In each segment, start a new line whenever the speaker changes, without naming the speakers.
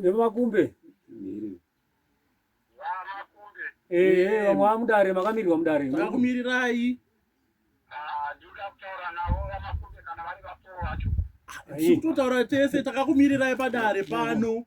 nemumakumbe ehe vamwe vamudare makamirirwa mudare vakumirirai
totaura tese takakumirirai padare pano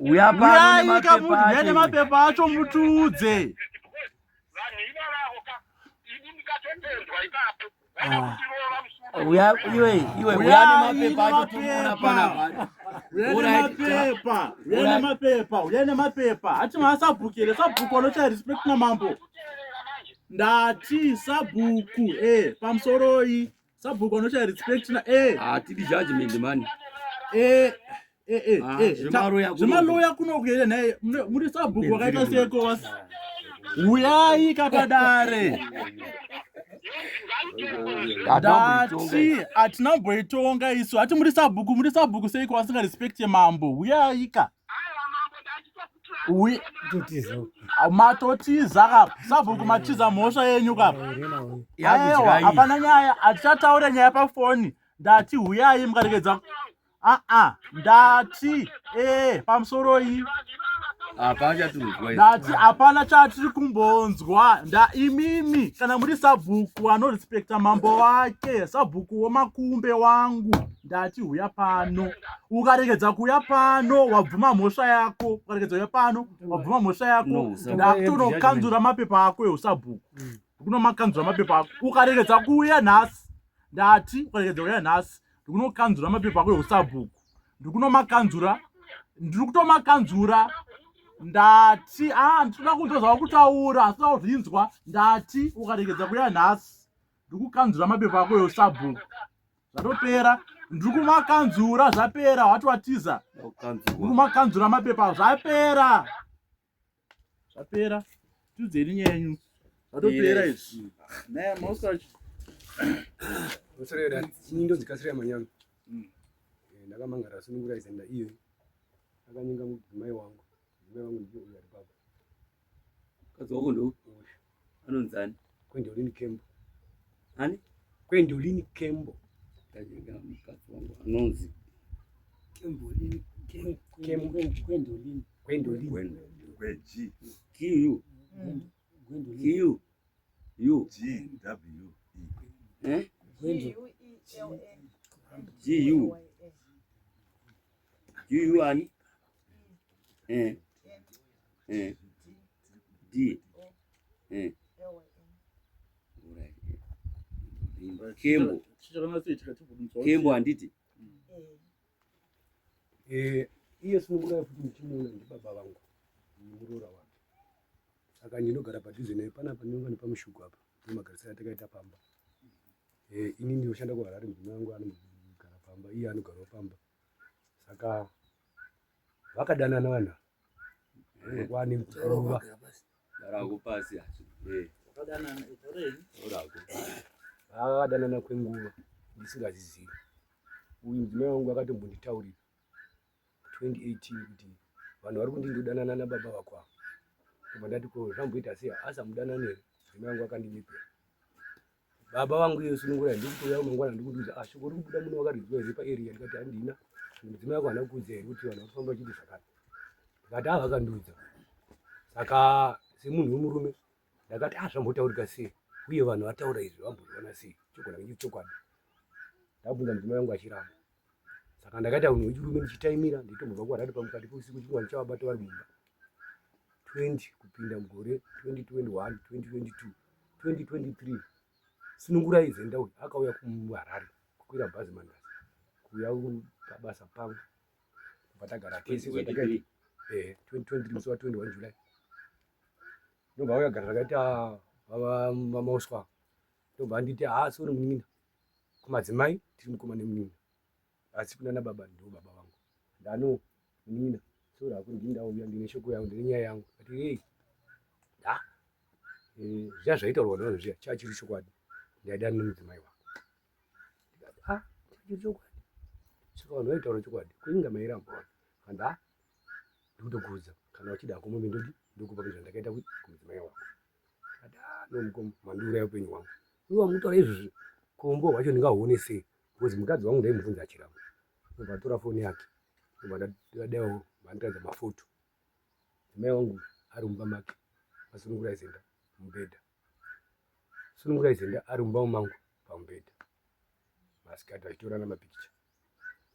uya pano nemapepa acho mutiudze ah. uya iwe iwe uya nemapepa acho tinoona panapa uyamapepa uyamapepa uyamapepa hati maasabhukire sabhuku anochaya respect namambo ndati sabhuku e eh, pamusoroi Sabhuku anoshaya respect na eh. Ah, tidi
judgment man. Eh. Eh, eh,
ah, eh, zvemaloya kunokuenda naye muri sabhuku wakaita seko wasi uyai kapadare dati hatina mboitonga isu hati muri sabhuku muri sabhuku seiko vasingarespecte mambo uyaika uye matotiza kapa sabhuku matiza mhosva yenyu kapa aiwa hapana nyaya hatichataura nyaya pafoni ndati huyai mukaregedza aa ndati ee eh, pamusoroi ndati hapana chatiri kumbonzwa ndaimimi kana muri sabhuku anorespekta mambo wake sabhuku womakumbe wangu ndati huya pano ukaregedza kuuya pano wabvuma mhosva yako ukaregedza uya pano wabvuma mhosva yako ndakutonokanzura mapepa ako eusabhuku mm. kunomakanzura mapepa ako ukaregedza kuuya nhasi ndati ukaregedza kuuya nhasi ndikunokanzura mapepa ako eusabhuku ndikunomakanzura ndiri kutomakanzura ndati a ah, nditoda kunzwa zvakutaura asi toda kuzvinzwa ndati ukaregedza kuuya nhasi ndikukanzura mapepa ako eusabhuku zvatopera ndiri kumakanzura zvapera wati watiza kumakanzura mapepa zvapera zvapera tiudzeni nyaya yenyu zvatopera izvi naye masachi
osareda nyingi dzikasira manyama hmm. eh, ndakamangara sunungura izenda iyo akanyenga
mudzimai wangu mukadzi
wako ndo anonzi ani kwendolini
kembo ani
kwendolini
kembo ndajenga
mukadzi wangu anonzi
kembolini
kwendolini kwendolini kweji kiyu kiyu yu g w e eh g u Yuyu ani? Eh. Eh. D. Eh. Kembo. Kembo handiti?
Eh, iye sinokuda futi muchimuona ndibaba vangu muroora wake saka ndinogara padhuze naye panapa ndinonga nepamushuku apa nemagarisiro atakaita pamba eh, ini ndinoshanda kuharare mudzimai wangu anogara pamba iye anogarawo pamba saka vakadanana vanhu eh. kwani kuruva rako
pasi hacho
eh. vakadanana kwenguva ndisingazizivi uyu mudzimai wangu akatombonditaurira 2018 kuti vanhu vari kundi ndodanana nababa vako ava koma ndati ko zvamboita sei asamudanane mudzimai wangu akandimipira baba vangu iyo sunungura ndiri kuuya kumangwana ndiri kutiudza ah shoko rikubuda muno wakariziva here paarea ndikati handina mudzimai wako hana kuudza here kuti vanhu vakufamba vachiti zvakati ndikati ah vakandiudza saka semunhu wemurume ndakati ah zvambotaurika sei uye vanhu vataura izvi vamboona sei chokwadi chokwadi ndabvunza mudzimai wangu achiramba saka ndakaita hunhu hwechirume ndichitaimira nditombobva kuwarari pamukati peusiku chingwa ndichavabata vari mumba 20 kupinda mugore 2021 2022 2023 sunungurai zenda uyu akauya kuharare kukwira bhazi mandasi kuuya pabasa pangu kubva tagara tese 2023 eh, musi wa 21 july ndobva auya gara takaita vamauswa ndobva anditi haasi uri munin'ina kumadzimai tiri mukoma nemunin'ina asi kunana baba ndo baba vangu ndano munin'ina sora hako ndini ndauya ndine shoko yangu ndine nyaya yangu ati ei da eh, zviya zvaitaurwa navo zviya chaa chiri chokwadi ndaida nemudzimai wako ndikati a ah, chiri chokwadi saka vanhu vaitaura chokwadi kuinga mairambaona kanda ah, ndikutokuudza kana uchida hako mombe ndodi ndokupa kuzvandakaita kumudzimai wako ati a ah, nomukoma mandiuraya upenyu hwangu Uyo wamutora izvozvi kombo wacho ndingahuone sei because mukadzi wangu ndaimubvunza achiramba ndobva atora foni yake ndobva ndadaiwo vandiratidza mafoto mai wangu ari mumba make asunungura izenda mubhedha sunungura izenda ari mumba mangu pamubhedha masikati vachitorana mapikicha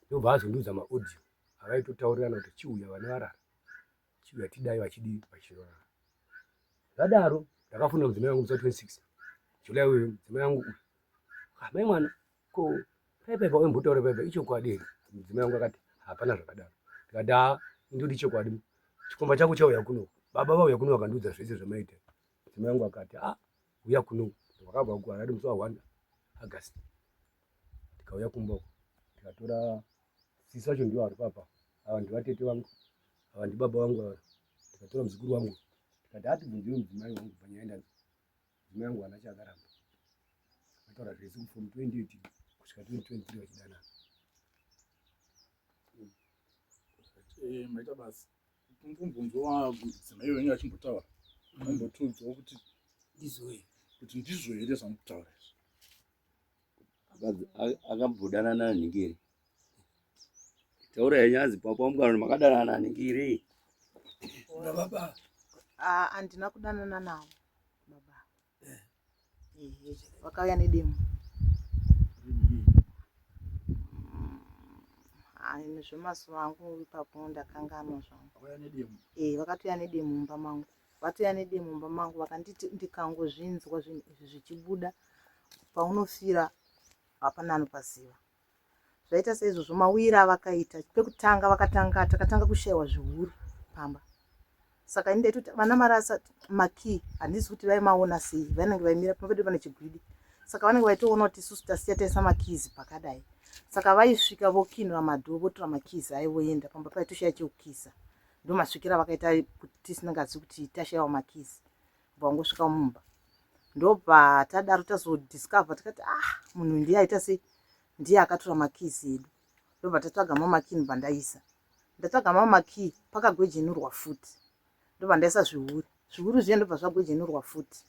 ndobva azondiudza maaudio avaitotaurirana kuti chiuya vane varara chivatidai vachidii vachiona zvadaro ndakafunda mudzimai wangu musati wesix julai uyu mudzimai wangu uyu ah, mai mwana ko paipa paimbotaura paipa ichokwadi here mudzimai wangu akati hapana zvakadaro ndikati haa ah, indodi chokwadi chikomba chako chauya kuno baba vauya kuno vakandiudza zvese zvamaita mudzimai wangu akati a ah, huya kuno wakabva uko akati musi wa1 agasti ndikauya kumba uko ndikatora sisi vacho ndivo vari papa ava ndivatete vangu ava ndibaba vangu ava ndikatora muzukuru wangu ndikati atibvunzire mudzimai wangu panyaya ndanzi mudzimai wangu hana chaakaramba ataura zvese kufom 28 kusvika 2023 vachidanana eh, maita
basa Kumbunzwa mudzimai iwe venga achimbotaura. Kumbotunzwa kuti ndizwe. Kuti ndizwe here zvamutaura izvo. Akambodana nana
Ningiri. Taura yanyazi papa mukana makadana nana Ningiri.
Baba. Ah,
andina kudanana navo. vakauya nedemo hayi zvemazuva angu ipapo ndakanganwa zvangu eh, vakatouya nedemo mumba mangu vatouya nedemo mumba mangu vakanditi ndikangozvinzwa zvinhu izvi zvichibuda paunofira hapana anopaziva zvaita seizvozvo mawira avakaita pekutanga vakatanga takatanga kushaiwa zvihuru pamba saka ini ndaitoti vana marasa makey handisi kuti vaimaona sei vanenge vaimira pamba pedu pane chigwidi saka vanenge vaitoona kuti isusu tasiya taisa makeys pakadai saka vaisvika vokinura madho votora makeys aivoenda pamba paitoshaya chekukisa ndomasvikira vakaita kuti tisinengazi kuti tashaiwa makeys pangosvika mumba ndopatadaro tazodiscover tikati ah munhu ndiye aita sei ndiye akatora makeys edu ndobva tatsvaga mamakini bandaisa ndatsvaga mamakii pakagwejenurwa futi ndobva ndaisa zviuri zviuri zviye ndobva zvagwejenurwa futi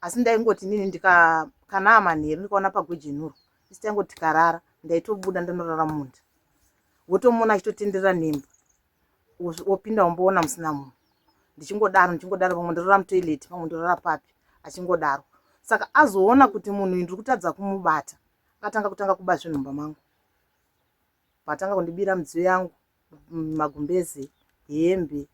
asi ndaingoti nini ndikakana amanheru ndikaona pagwejenurwa isi taingoti karara ndaitobuda ndanorara munda wotomuona achitotenderera nemba wopinda womboona musina munhu ndichingodaro ndichingodaro vamwe ndorora mutoilet vamwe ndorora papi achingodaro saka azoona kuti munhu uyu ndiri kutadza kumubata akatanga kutanga kuba zvinhu mumba mangu patanga kundibira midziyo yangu magumbeze hembe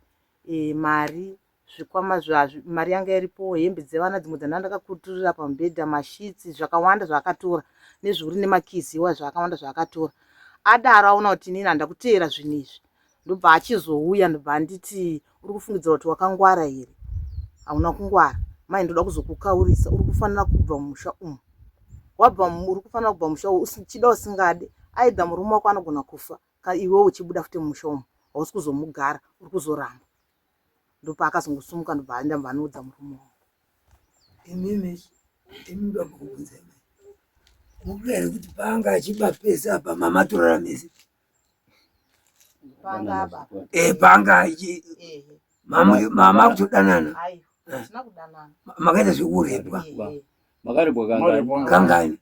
e, mari zvikwama zvacho, mari yanga iripo, hembe dzevana dzimwe dzandanga ndakakuturira pamubhedha, masheets, zvakawanda zvaakatora nezviuri nemakeys ewaya zvaakawanda zvaakatora. Adaro aona kuti inini handina kuteera zvinhu izvi ndobva achizouya ndobva anditi uri kufungidzira kuti wakangwara here? Hauna kungwara mai, ndoda kuzokukaurisa uri kufanira kubva mumusha umu wabva uri kufanira kubva mumusha umu uchida usingade aidha murume wako anogona kufa iwewo uchibuda futi mumusha umu hausi kuzomugara uri kuzoramba ndopaakazongosumuka ndobva aenda mva anoudza murume wangu imimi
imi ndokuudza imi mukuda here kuti paanga achiba pese apa mama torara mese eh, paanga achi mama kutodanana makaita zvekurepwa makarepwa kangani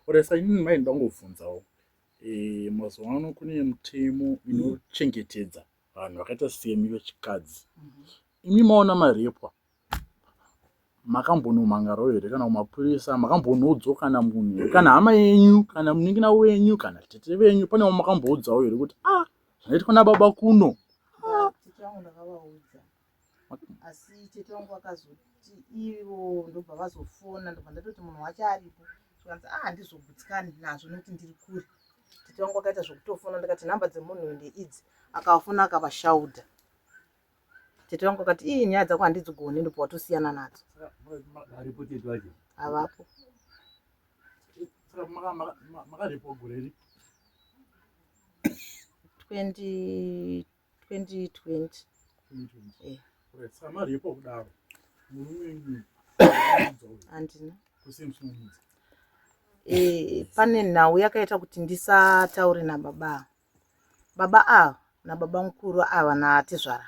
oresa inini mai ndangobvunzawo eh, mazuva ano kune mutemo inochengetedza mm. vanhu vakaita semi vechikadzi mhm. imi maona marepwa makambonomhangarwo here kana kumapurisa makambonoudzwa kana munhu kana hama yenyu kana munin'ina wenyu kana tete venyu pane wamakamboudzawo here kuti a ah, zvinoitwa nababa kuno
ah. asi tete wangu akazoti ivo ndobva vazofona ndobva ndatoti munhu wacho aripo zvikanzi a ah, handizogutsikani nazvo nokuti ndiri kure tete wangu akaita zvokutofona ndikati nhamba dzemunhu uyu ndeidzi akavafona akavashaudha tete wangu akati ii nyaya dzako handidzigoni ndobva watosiyana nadzo
havapo
makaripwa gore ri
20 2020
eh. samari yepo kudaro murume
andina eh, pane nhau yakaita kuti ndisataure nababa baba ava nababa mukuru ava natezvara